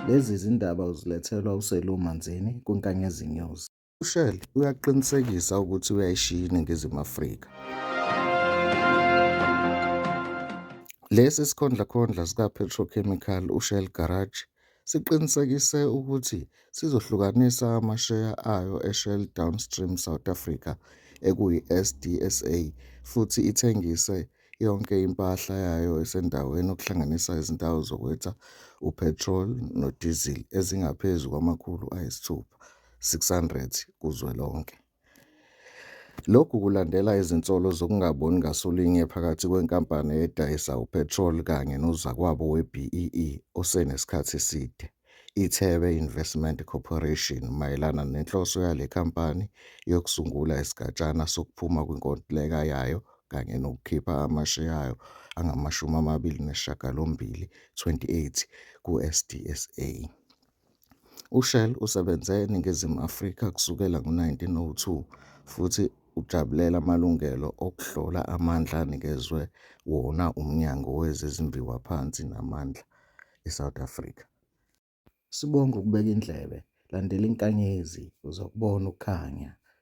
Lezi zindaba uzilethelwa uSelou Manzini kwiNkanyezi News. UShell uyaqinisekisa ukuthi uyayishiya iNingizimu Afrika. Lesi sikhondlakhondla sikaPetrochemical uShell Garage siqinisekise ukuthi sizohlukanisa amasheya ayo eShell Downstream South Africa, ekuyi-SDSA, futhi ithengise yonke impahla yayo esendaweni okuhlanganisa izindawo zokwetha uphethroli nodizili ezingaphezu kwamakhulu ayisithupha, 600, kuzwelonke. Lokhu kulandela izinsolo zokungaboni ngasolinye phakathi kwenkampani edayisa uphethroli kanye nozakwabo we-BEE osenesikhathi eside, iThebe Investment Corporation, mayelana nenhloso yale nkampani yokusungula isigatshana sokuphuma kwinkontileka yayo kanye nokukhipha amasheya ayo angama-28, 28, kuSDSA. UShell usebenze eNingizimu Afrika kusukela ngo-1902 futhi ujabulela amalungelo okuhlola amandla anikezwe wona uMnyango wezeZimbiwa phansi namandla eSouth Africa. Sibonge ukubeka indlebe, landela inkanyezi uzokubona ukukhanya.